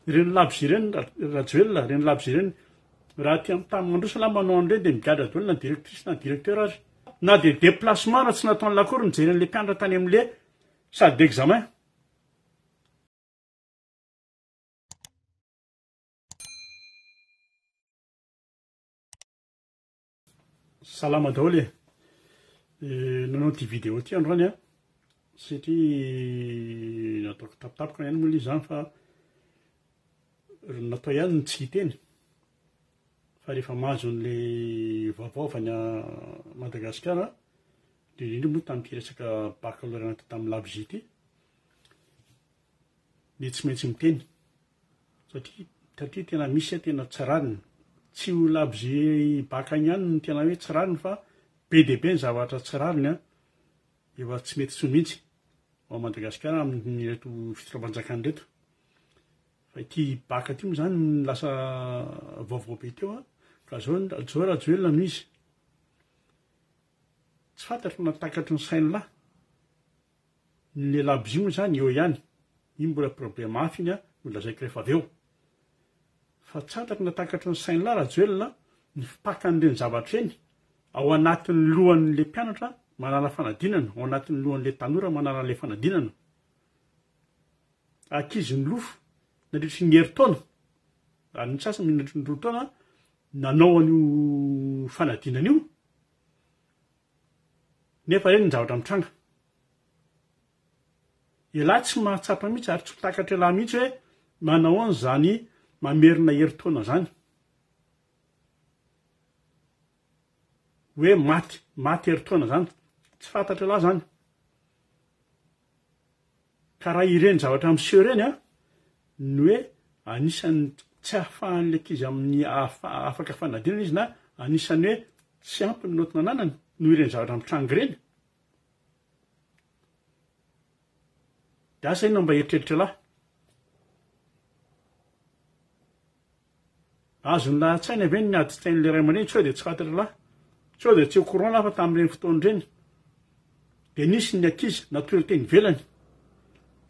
Ireny labozia ireny Rajoelina, ireny labozia ireny, raha aty amin'ny tany mandroso angamba manao an'ireny dia migadra daholo na directrice na directeur aza. Na dia déplacement raha tsy nataon'ilay akory nijery an'ilay mpianatra tany amin'ilay salle d'examen. Salama daholo e! Nanao ity vidéo ity androany an, satria nataoko tampotampoka ihany moa ilay izy izany fa natao ihany ny tsy hiteny, fa rehefa mahazo an'ilay vaovao avy any Madagasikara an, indrindra indrindra moa tamin'ity resaka baccalauréat natao tamin'ny labozia ity, dia tsy maintsy miteny satria satria tena misy tena tsy rariny, tsy ho labozia bacc any ihany no tena hoe tsy rariny fa be dia be ny zavatra tsy rariny an, efa tsy mety intsony mihitsy ao Madagasikara amin'ireto fitondram-panjakana ireto, fa ity bacc ity moa zany no lasa vaovao be teo an, ka zao zao Rajoelina no izy, tsy fantatro na takatry ny sain'lah. Ny lehilahy bzy moa izany eo ihany, iny mbola problème hafa iny no lazaiko rehefa avy eo. Fa tsy antako na takatry ny sain'lah Rajoelina ny fipakan'ireny zavatra ireny ao anatin'ny lohan'le mpianatra manala fanadinana, ao anatin'ny lohan'le tanora manala an'le fanadinana. Ankizy nilofo nandritry ny herintaona, ary ny sasany nandritry ny roa taona nanao an'io fanadinana io. Nefa eny ny zavatra mitranga. Ialahy tsy mahatsapa mihitsy ary tsy ho takatra ialahy mihitsy hoe manahoana izany mamerina herintaona izany. Hoe maty, maty herintaona izany. Tsy fantatr'ialahy izany. Ka raha ireny zavatra miseho ireny an, ny hoe anisan'ny tsy ahafahan'ilay ankizy amin'ny afaka fanadinana izy na anisan'ny hoe tsy ampy ny note nananany noho ireny zavatra mitranga ireny, dia asa inona mba eritreritr'lah? Azony lahatsaina ve ny miady tena le ray aman-dreny sao dia tsy faty ry lahy? Sao dia tsy au courant lahy fa tamin'ireny fotoana ireny dia nisy ny ankizy natory teny ivelany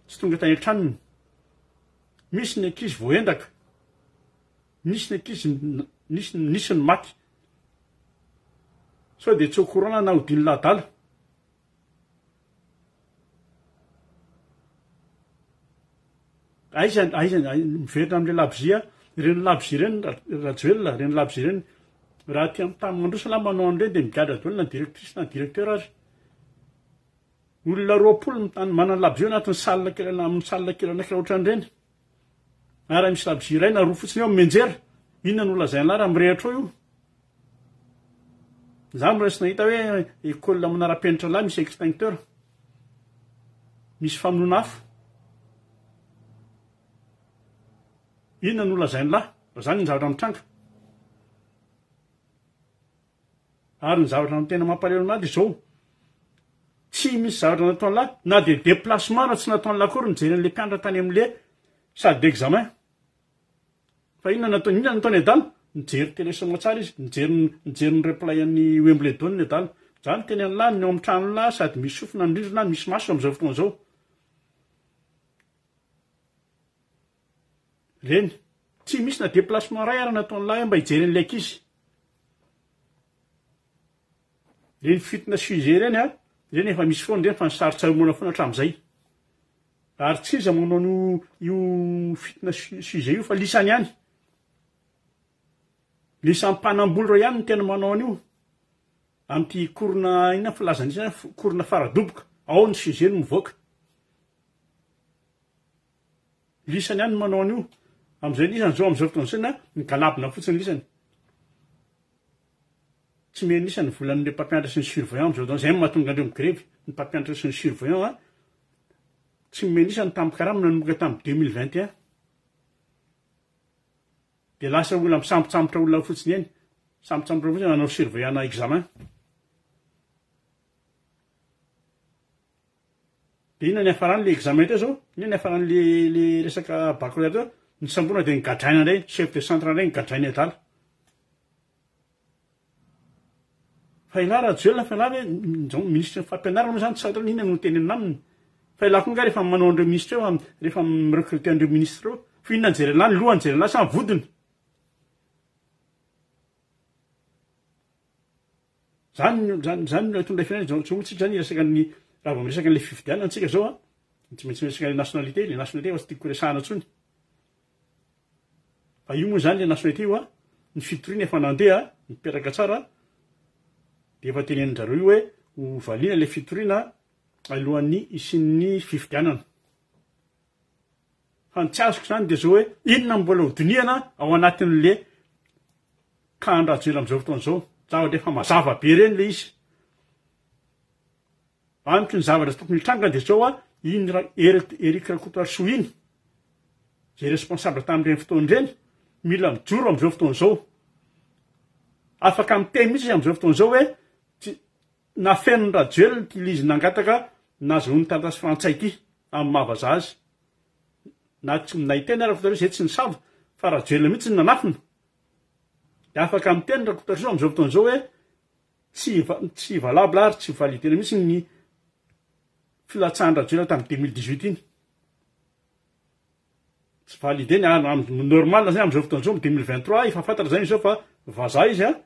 tsy tonga tany an-tranony, misy ny ankizy voaendaka, nisy ny ankizy nisy nisy ny maty sao dia tsy au courant lahy na odian'ny lahy adala? Aiza aiza miverina amin'ilay labozia, ireny labozia ireny Rajoelina, ireny labozia ireny, raha aty amin'ny tany mandroso ialahy manao an'ireny dia migadra daholo na directrice na directeur ary, olona roapolo mitany manana labozia ao anatin'ny salle kely amin'ny salle kely anankiray ohatran'ireny. Ary misy labozia iray na roa fotsiny eo amin'ny menjera. Inona no lazain'lah raha mirehatra ao io? Za miraisy nahita hoe école manara-penitra lahy misy extincteur. Misy famonoana afo. Inona no lazain'lah raha zany ny zavatra mitranga? Ary ny zavatra no tena mampalahelo an'ahy dia izao, tsy misy zavatra nataon'lah, na dia déplacement aza tsy nataon'lah akory nijery an'ilay mpianatra tany amin'ilay salle d'examen. Fa inona no nataony, inona no nataony adala? Nijery télé soa aman-tsara izy, nijery ny, nijery ny replay an'i Wimbledon adala. Izaho no teny an'lah, ny ao amin'ny tranon'lah sady misy sofina ny rindrina, misy maso amin'izao fotoana izao. Reny. Tsy misy na déplacement iray ary nataon'ilay ahy mba hijery an'ilay ankizy. Reny fitina sujet ireny a, ireny efa misy foana ireny fa nisarontsaromoana foana hatramin'izay. Ary tsy iza manao an'io io fitina sujet io fa lisany ihany. Lisany mpanamboly ireo ihany no tena manao an'io. Amin'ity korona inona filazana ity, korona fara-doboka, ao ny sujet no mivoaka. lisany ihany no manao an'io amin'izay lisany zao amin'izao fotoana izao na migalabona fotsiny lisany tsy mihena lisany volan'ilay mpampianatra sy ny surveillant amin'izao fotoana izay no mahatonga andreo migrevy ny mpampianatra sy ny surveillant a tsy mihena lisany tamin'ny karama nanomboka tamin'ny 2021 dia lasa olona misambotsambotra olona fotsiny eny sambotsambotra fotsiny nanao surveillant examen De inona ny hafarany le examen teo zao? Inona ny hafarany le le resaka baccalauréat teo? Ny samborina de nigadraina ndray, chef de centre ndray nigadraina i adala. Fa elah Rajoelina fa elah ve nizao ministre ny fampianarana moa zany tsy fantatrao inona no tenenina aminy? Fa elah koa nga rehefa manao an'ireo ministre eo rehefa mi-recruter an'ireo ministre ireo fa inona no jereny lahy, ny lohany no jereny lahy sa ny vodiny? Zany no zany zany no aton'ilay firenena zao tsy hoantsika zany resaka ny raha vao miresaka an'ilay fifidianana antsika zao a de tsy maintsy miresaka le nationalité le nationalité efa tsy tiako resahana intsony fa io moa zany le nationalité io a ny fitoriana efa nandeha mipetraka tsara de efa tenenin-djareo io hoe ho valiana le fitoriana alohan'ny hisian'ny fifidianana fa ny tsy azoko zany de zao hoe inona mbola ho dinihana ao anatin'le Ka any Rajoel amizao fotoana zao, za ohatry efa mazava be reny le izy. Amiko ny zavatra tokony hitranga de zao a, iny ra, Eric, Eric Rakotoarisoa iny, zay responsable tamin'ireny fotoana ireny, mila mijoro amizao fotoana zao. Afaka miteny mihitsy izy amizao fotoana zao hoe, tsy, nafenin'i Rajoel ny kila izy nangataka nazahoany taratasy frantsay ity, amin'ny maha vazaha azy. Na tsy, na i Tena Rakotoarisoa zay tsy nisava, fa Rajoel mihitsy no nanafina. Dia afaka miteny Rakotoarisoa amin'izao fotoana izao hoe tsy tsy valable ary tsy valide-na mihitsy ny filatsahan-dRajoelina tamin'ny deux mille dix huit iny. Tsy valide ny ary amin'ny normal zay amin'izao fotoana izao amin'ny deux mille vingt trois efa fantatra izay izao fa vazaha izy an,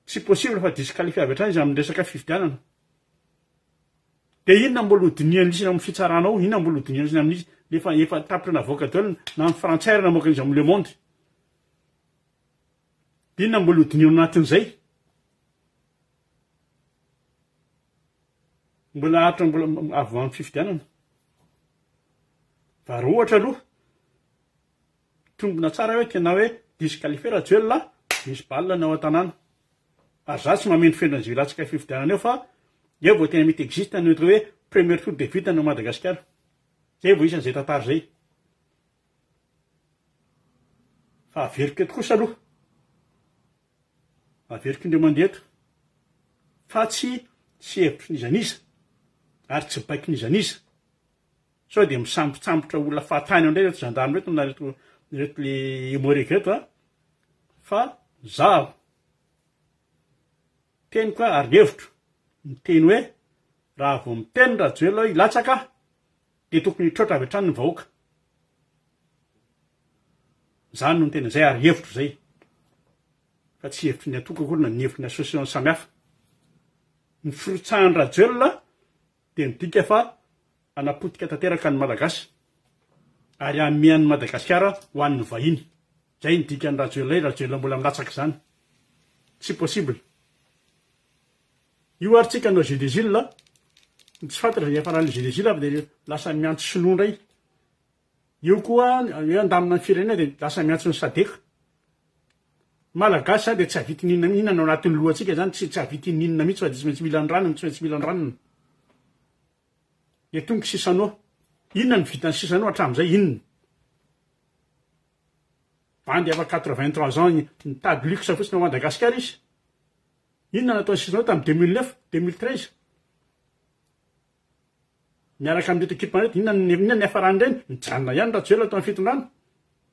tsy possible fa disqualifié avy hatrany izy amin'ny resaka fifidianana. Dia inona mbola ho dinihan-drisina amin'ny fitsarana ao, inona mbola ho dinihan-drisina amin'izy nefa efa tapitra navoaka daholo na ny frantsay ary namoaka an'izy amin'ny le monde. Inona mbola ho dinihina ao anatin'izay? Mbola haharitra mbola avy amin'ny fifidianana. Fa raha ohatra aloha, mitombina tsara hoe tena hoe disqualifier Rajoelina, misy balina ny ao an-tanàna. Ary izaho tsy mamendrofendro an'izay hilatsaka fifidianana eo fa eo vao tena mety existe ny atao hoe premier tour de vide any Madagasikara. Izay vao isan'izay tantara izay. Fa averiko eto kosa aloha, averiko indray mandeha eto fa tsy tsy hevitry n'iza n'iza ary tsy baiko n'iza n'iza sao dia misambotsambotra olona fahatany ao indray ireto gendarme ireto na ireto ireto le emorega ireto a, fa izaho teniko ary ny hevitro miteny hoe raha vao miteny Rajoelina hoe hilatsaka aho Dia tokony hitroatra avy hatrany ny vahoaka. Izany no tena izay ary hevitro izay. Fa tsy hevitry ny antoko akory na ny hevitry ny association samihafa. Ny firotsahan'i Rajoelina dia midika fa hanapotika tanteraka ny Malagasy ary hanome an'i Madagasikara ho an'ny vahiny. Izay ny dikan'i Rajoelina, i Rajoelina mbola milatsaka izany. Tsy possible. Io ary tsika hanao Gédésil a, ny tsy fantatra zay hiafarany le Gédésil avy de lasa miantso sinoa ndray, eo koa hoe handamina ny firenena de lasa miantso ny sadec. Ny malagasy zany de tsy havita inona na inona ny ao anatin'ny lohantsika zany tsy havita inona na inona mihitsy fa de tsy maintsy mila ny ranony, tsy maintsy mila ny ranony. Et donc sisa no, inona no vitan'i sisa no hatramizay inona? Bandy efa quatre vingt trois ans mitady luxe fotsiny ao Madagasikara izy, Inona natao ny Sinoa tamin'ny deux mille neuf, deux mille treize? Miaraka amin'ireto ekipa ireto, inona ny, inona ny hiafaran'ireny? Nijanona ihany Rajoelina tao amin'ny fitondrana.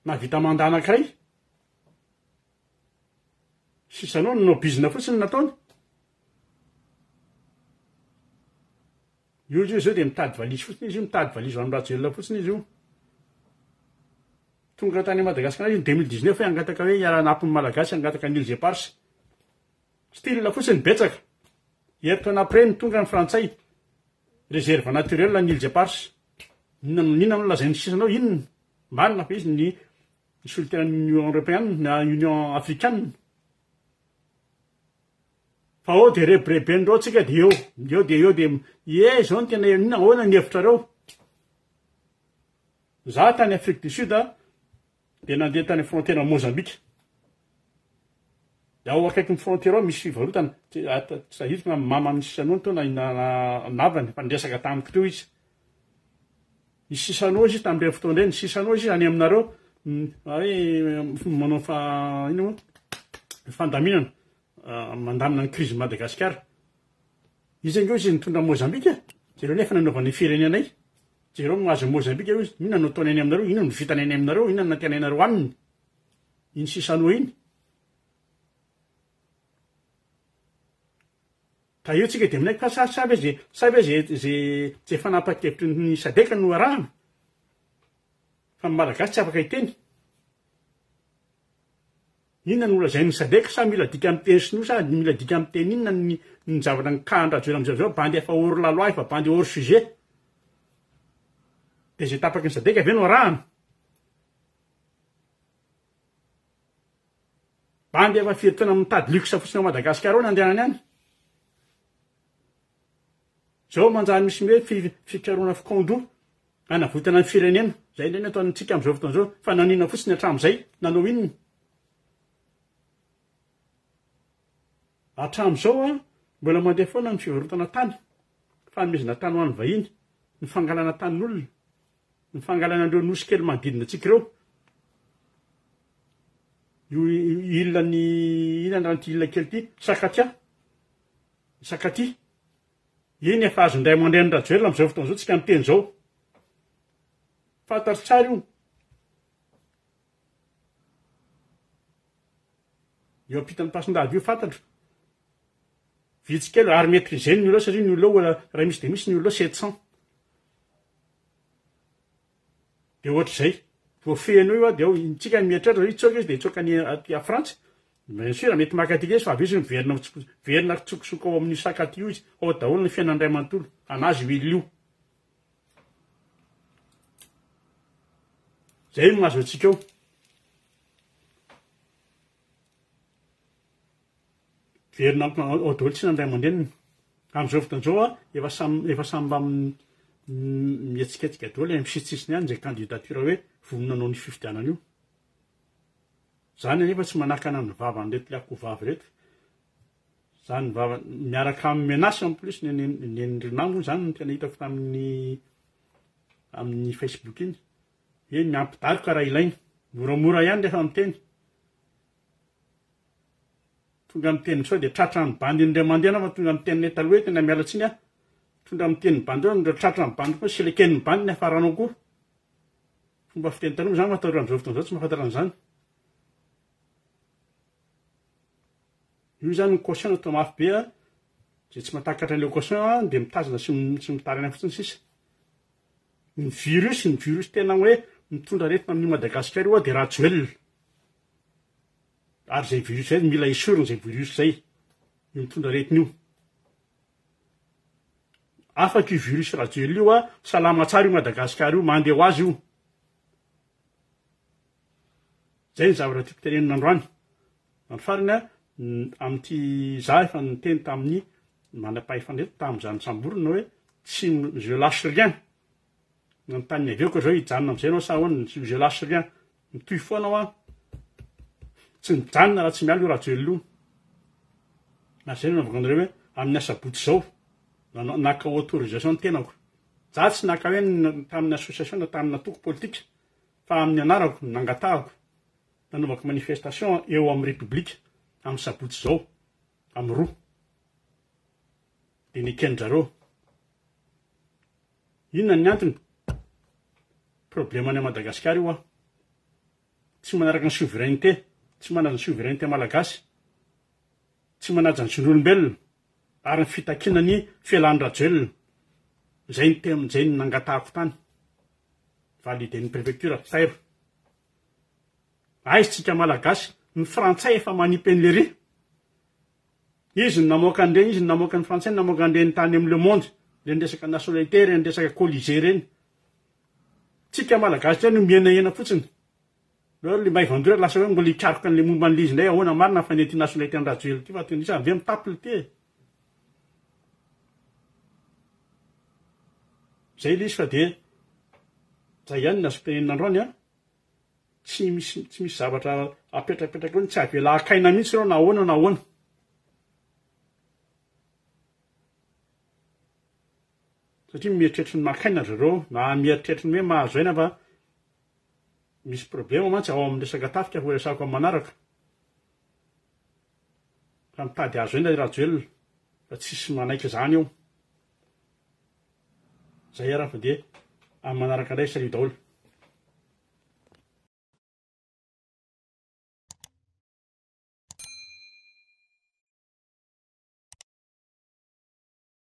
Nahavita mandat anankiray. Sisa noa ny no bizina fotsiny ny nataony. Io olona io zao dia mitady valise fotsiny izy io mitady valise ho an'i Rajoelina fotsiny izy io. Tonga tany Madagascar io 2019 hoe hangataka hoe hiara-hanampy ny Malagasy hangataka ny îles éparses. Style fotsiny betsaka. Herintaona après no tonga ny frantsay. Réserve naturelle ny îles éparses. Inona no inona no lazain'ny sisa anao inona? Marina fa izy ny solitaire an'ny Union européenne na Union africaine. Fa ao dia rebireben'ireo tsika dia eo eo dia eo dia ie izao no tena inona ahoana ny hevitrareo za tany Afrique du Sud dia nandeha tany frontière Mozambique dia ao akaikin'ny frontière ao misy fivarotana tsy sahiriko na mama amin'ny sisanony teo na namany fa niresaka tamiko teo izy ny sisanao izy tamin'ireny fotoana ireny ny sisanao izy any aminareo hoe manao fa ino fandaminana mandamina ny krizin'i Madagasikara. Iza ange hozy nitondra an'i Mozambika? Jereo anie efa nanaovana ny firenenay. Jereo mahazo an'i Mozambika hozy. Inona no ataony any aminareo? Inona no vitany any aminareo? Inona no nantenainareo aminy? Iny sisanoa iny. Ka eo tsika dia minaiky fa sa sa ve ze sa ve ze ze ze fanapahan-kevitry ny sadeka no arahana? Fa ny Malagasy tsy afaka hiteny. Inona no lazain'ny sadec sa mila dika amin'ny teny sinoa sa mila dika amin'ny teny inona ny ny zavatra nikahan rajoel amizao zao bandy efa hors la loi efa bandy hors sujet de zay tapaky ny sadec ve no arahana bandy efa firy taona mitady luxe fotsiny ao madagascar ao ny andehanany any Zao manjary misy ny hoe fikarohana fikaondro hanavotana ny firenena, zay indray no ataontsika amin'izao fotoana izao, fa nanao inona fotsiny hatramin'izay? Nanao inona? Hatramin'izao an, mbola mandeha foana ny fivarotana tany, fanomezana tany ho an'ny vahiny, ny fangalana tanin'olona, ny fangalana an'ireo nosy kely manodidina antsika ireo, io ilan'ny inona ny ran'ity ila kely ity, sakatia, sakatia, Iny efa azon'ny ray aman-drenin'i Rajoelina amin'izao fotoana izao tsika miteny izao. Fantatro tsara io. Eo ampitan'ny pasin-dava io fantatro. Vitsy kely ary maîtriser ny olona satria ny olona raha misy dia misy ny olona 700. dia ohatr'izay, vao feno io aho dia ao, intsika ny mieritreritra hoe hitsoaka izy dia hitsoaka any aty à Frantsa, bien sûr mety maka antsika izy fa avy eo izy miverina ho tsy, miverina hitsokosoko ao amin'io sac aty io izy, ao daholo ny fiainany iray manontolo, an'azy io olona io. Izay no mahazo antsika ao. Miverina ao daholo tsiny ny ray aman-dreniny. Amin'izao fotoana izao efa samy efa samy mba mihetsiketsika daholo any amin'ny sisisisiny any izay candidature hoe vonona hanao an'io fifidianana io. Izany anefa tsy manakana ny vavan'ireto ilay akoho vavy ireto. Izany ny vava miaraka amin'ny menace en plus ny nen'i Rinah moa izany no tena hitako tamin'ny amin'ny Facebook iny. Hoe miampidaroka raha ilaina. Moramora ihany rehefa miteny. Tonga miteny sao dia tratra ny bandy indray mandeha nama tonga miteny le taloha hoe tena miala tsiny aho tonga miteny bandy hoe indray tratra ny bandy koa sileken ny bandy ny afaranao koa fomba fiteny taloha zany fa taloha amizao fotoana zao tsy mahafantatra an'izany io zany ny caution natao mafy be a zay tsy matakatra an'ilay caution a de mitazona sy tsy mitarina fotsiny sisa ny virus ny virus tena hoe mitondra aretina amin'i madagasikara io a de rajoelina Ary izay virus izay mila esurina izay virus izay, io mitondra aretina io. Afaka io virus rajoelina io a, salama tsara io Madagascar io, mandeha ho azy io. Zay ny zavatra tiako tenenina androany. Andro farany a, amin'ity za efa niteny tamin'ny manam-pahefana eto tamin'izany samborina hoe tsy je lâche rien. Nanontany avy eo ka zao hijanona amizay enao sa ahoana, je je lache rien, mitohy foana hoa, tsy mijanona raha tsy miala io Rajoelina io, ary zay no nanaovako anareo hoe amin'ny asabotsy zao nanao naka autorisation ny tenako, za tsy naka hoe tamin'ny association na tamin'ny antoko politika fa amin'ny anarako no nangatahako nanaovako manifestation eo amin'ny République amin'ny sabotsy zao amin'ny roa de neken'ny zareo Inona ny antony? Problème any Madagascar io an! Tsy manaraka ny souveraineté, tsy manaja ny souveraineté malagasy, tsy manaja ny zon'olombelona ary ny fitakiana ny fialan'i Rajoelina. Izay ny tem, izay ny nangatahako tany validen'ny préfecture ry Tairo. Aiza tsika malagasy, ny frantsay efa manipy an'i Lery. Izy no namoaka an'ireny, izy no namoaka ny frantsay, namoaka an'ireny tany amin'ny le monde, ireny resaka nationalité, ireny resaka colisée ireny. Tsika Malagasy indray no mihenahena fotsiny. Hoe le maivan-doha lasa hoe mbola hikaroka an'le momba an'le izy indray ahoana marina ny fanian'ity nationalité an'i Rajoelina ity fa tonga isan'izay mitapy ity e. Zay le izy fa dia zay ihany ny azo tenenina androany an! tsy misy tsy misy zavatra apetrapetraka eo tsy avela hakaina mihitsy ireo na ahoana na ahoana satria mieritreritra ny makaina ry zareo na mieritreritra ny hoe mahazo aina fa misy problema mantsy ao amin'ny resaka tafika ho resako amin'ny manaraka fa mitady azo aina i rajoelina fa tsisy manaiky izany eo Zay ara fa de amin'ny manaraka ndray salut daholo.